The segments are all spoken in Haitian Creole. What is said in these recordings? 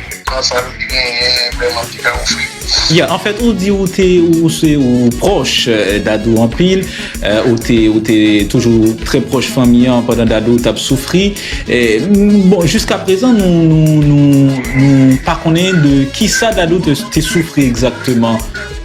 Epa sa li genyen vreman ki ka ofri. Yeah, en fait ou di ou te ou se ou proche euh, Dadou anpil, euh, ou te ou te toujou très proche fanmi an pandan Dadou tap soufri. Eh, bon, jusqu'à présent nou nou nou nou pa konnen de kisa Dadou te, te soufri exactement.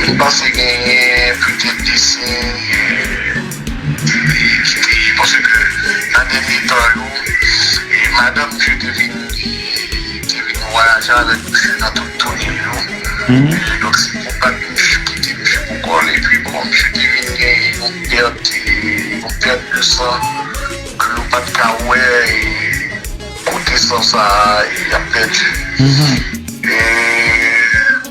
Li panse genyen putèt desen li ki te panse ke nan dènye tan yo madanm Dye te vin te vin vwayaje avèk misye nan tout toune l yo e donk se pou bat misye ki te misye pou kò l epi bon misye te vin genyen yon pèt yon pèt de san ke yo pat ka wè kote san sa ap pèdi e.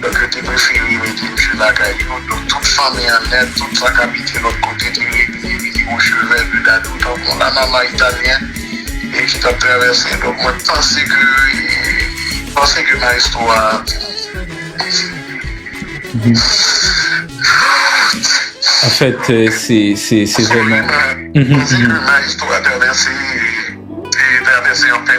Donk yo te prefere mete misye lakay yo, donk tout fanmi an nèt, tout sa k abite lòt kote te repliye vini yon chevèl de dadou tankou yon lanmanman italyen e ki t ap travèse. Donk mwen panse ke panse ke maestro a Anfèt se se se vrèman panse ke maestro a travèse travèse yon pè.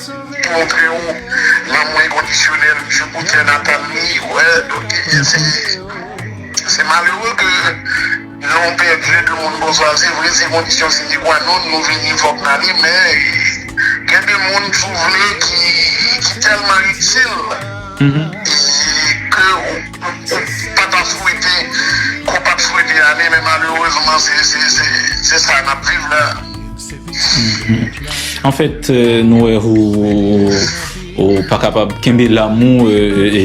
Li montre ou lanmou enkondisyonèl li pou tè natal li. Se malere ke lè ou pèdi 2 moun konsa, se vre se kondisyon sine kwa non nou vini fòk n ale men gen 2 moun si w vle ki tèlman itil ke ou pa ta swete ke w pa t swete ale men malerezman se sa n ap viv la. En fèt nou wè ou pa kapab kenbe lanmou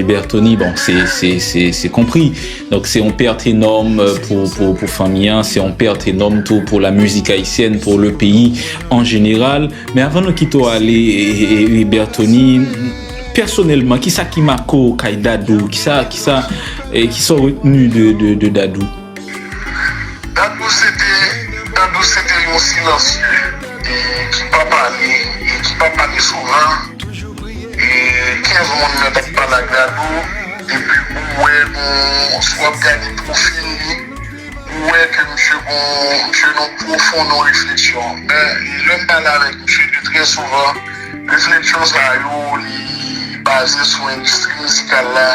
Berthony bon se konpri donk se yon pèt enòm pou fanmi an se yon pèt enòm tou pou la mizik ayisyèn pou le peyi an jeneral men avan nou kite ou ale Berthony pèsonèlman kisa ki make ou kay Dadou kisa ou retenu de Dadou? Dadou se te Dadou se te yon silansye e ki pa pale e ki pa pale souvan e 15 moun mèt ap pale ak Dadou epi ou wè gon si wap gade pwofil li ou wè ke misye gon misye nan pwofon nan refleksyon men lèm pale avèk misye li trè souvan refleksyon sa yo li baze sou endistri mizikal la.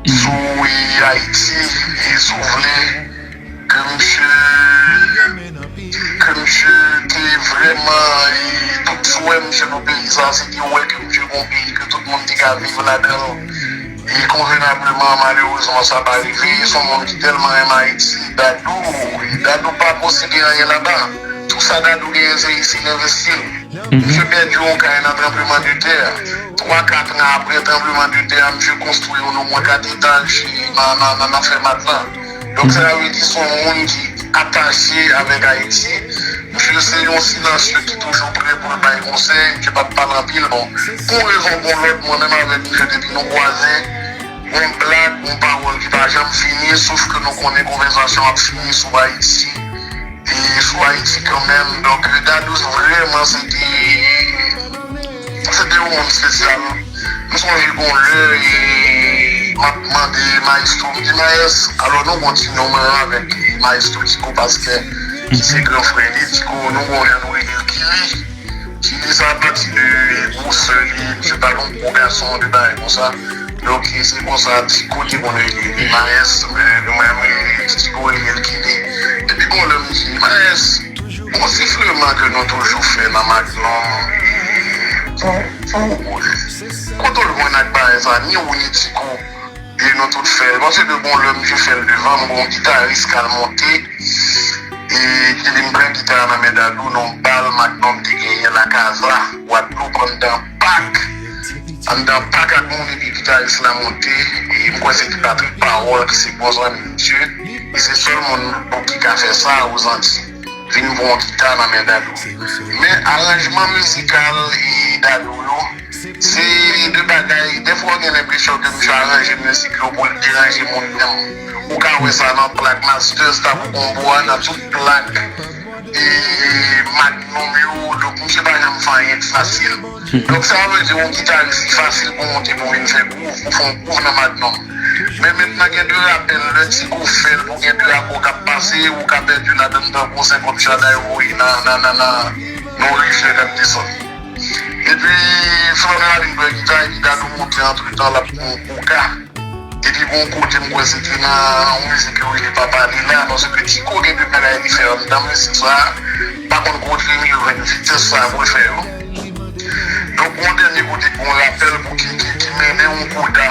Izoumweyy Haïti izouvle ke misye ke misye te vrèman e tout swè misye pou peyi sa se te wè ke misye gon peyi ke tout moun te ka viv ladanl e konvenableman malerezman sa pa rive son moun ki tèlman renmen Haïti Dadou e Dadou pa posede anyen laba. Tout sa Dadou genyen se isit l envesti l. Misye pèdi yon kay nan tranbleman de tè a. Twa ka tran aprè tranbleman de tè a misye konstwi yon omwen kat etaj nan Fèmat la. Donk sa vle di son moun ki atache avèk Ayiti. Misye se yon silansye ki toujou prè pou l bay konsèy, misye pap pale anpil bon. Pou yon rezon ou pou yon lòt mwen menm avèk misye depi nou kwaze yon blag yon pawòl ki pa janm fini sof ke nou konnen konvèzasyon ap fini sou Ayiti. sou Ayiti kanmenm. Donk Dadou vrèman se te yon moun espesyal. M sonje gon lè m ap mande mayestwo m di mayès alò nou gon ti non mwen avèk mayestwo Diko Pastè ki se gran frè li Diko nou gon jan nou rele l Kili. Ti fi sa pati de gwo sè li, misye pa gon gwo gason de bagay konsa donk se konsa Tico te konn rele li Maes nou menm ti Tico rele l Kini depi gon lè m di Maes gon sifleman ke nou toujou fè nan Magnum e pou pou kote w jwenn ak bagay sa ni ou ni Tico Ui nou tout fè non se de bon lèm je fèl devan m gon gitaris kal monte e ki vin pran gita a nan men dadou non bal magnum te genyen la casa guadeloupe anndan pak anndan pak ak moun epi gitaris la monte e m kwè se te patrick parole ki se bon zanmi misye e se sèl moun bon ki ka fè sa aux antilles vin pran yon gita nan men dadou men aranjman mizikal e dadou yo. Se 2 bagay, dèfwa ou gen lenpresyon ke misye aranje mizik yo pou l deranje moun menm. Ou ka wè sa nan plak Masters, Tabu Combo a, nan tout plak Magnum yo, donk misye pa janm fè anyen k fasil. Donk sa vle di yon gitaris li fasil pou monte pou vin fè gwouv, pou fè yon gwouv nan Magnum. Men mentnan gen 2 rapè lè Tigo fè l pou gen 2 akò k ap pase, ou ka pèdi ladann tankou 50 chada yo voye nan yon riflè k ap desann. Epi Florent al vin jwe gita epi Dadou monte antretan lap pran yon koka epi gon kote m kwè se te nan yon mizik yo rele papa li la paske Kiko gen de bagay li fè anndan mizik sa pa konn kote Emilio jwenn vitès sa pou l fè yo donk gon dènye kote gon rapèl pou Kiki ki mennen yon koda.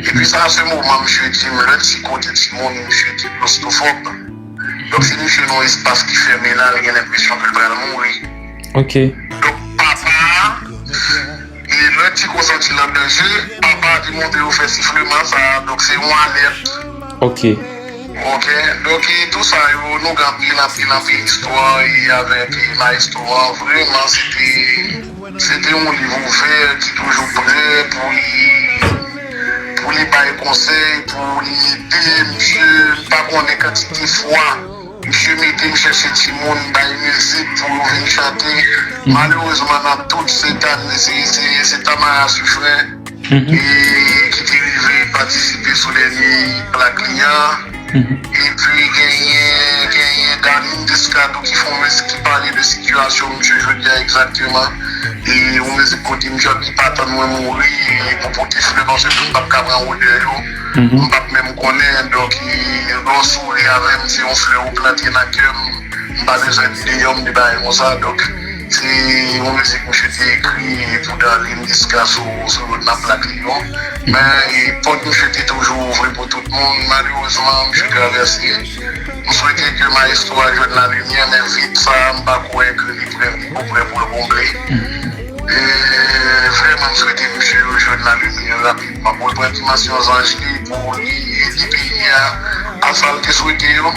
Depi sa se moman misye dim lè ti kote ti moun misye te klostofòb. Dòk si misye nan yon espas ki fèmen la li gen lenpresyon ke l pral mouri. Dòk papa a e lè ti ko santi l an danje, papa a te montre yo fè sifleman sa a dòk se yon alèt. Ok dòk e tou sa yo nou gen anpil anpil anpil istwa e avèk maestro an vreman se te. Se te yon liv ouvè ki toujou prè pou li pou li bay konsèy, pou li ede misye. M pa konnen kantite fwa misye mete m chèche timoun bay mizik pou yo vin chante. Malerezman nan tout se Tami se Tamara Suffren. e ki te rive patisipe sou dènye plak li an epi genyen Darline Descadou ki fè yon mizik ki pale de sitiyasyon misye jodi a egzakteman e yon mizik kote misye ap di pa tann mwen mouri pou pote flè paske m pap ka pran odè yo m pap menm konnen donk lè w souri avè m se yon flè ou plante nan kè m m pa bezwen deyò m de bagay konsa donk. Se yon mizik misye te ekri pou Darline Desca sou lòt nan plak li yo. Men pòt misye te toujou ouvri pou tout moun. Malerezman misye travèse. M swete ke maestro a jwenn lalimyè men vid sa a m pa kwè ke li prè li ko prè pou l konble. E vrèman m swete misye jwenn lalimyè rapidman pou l pran dimansyon zanj li pou li ede peyi a a sa l te swete yo.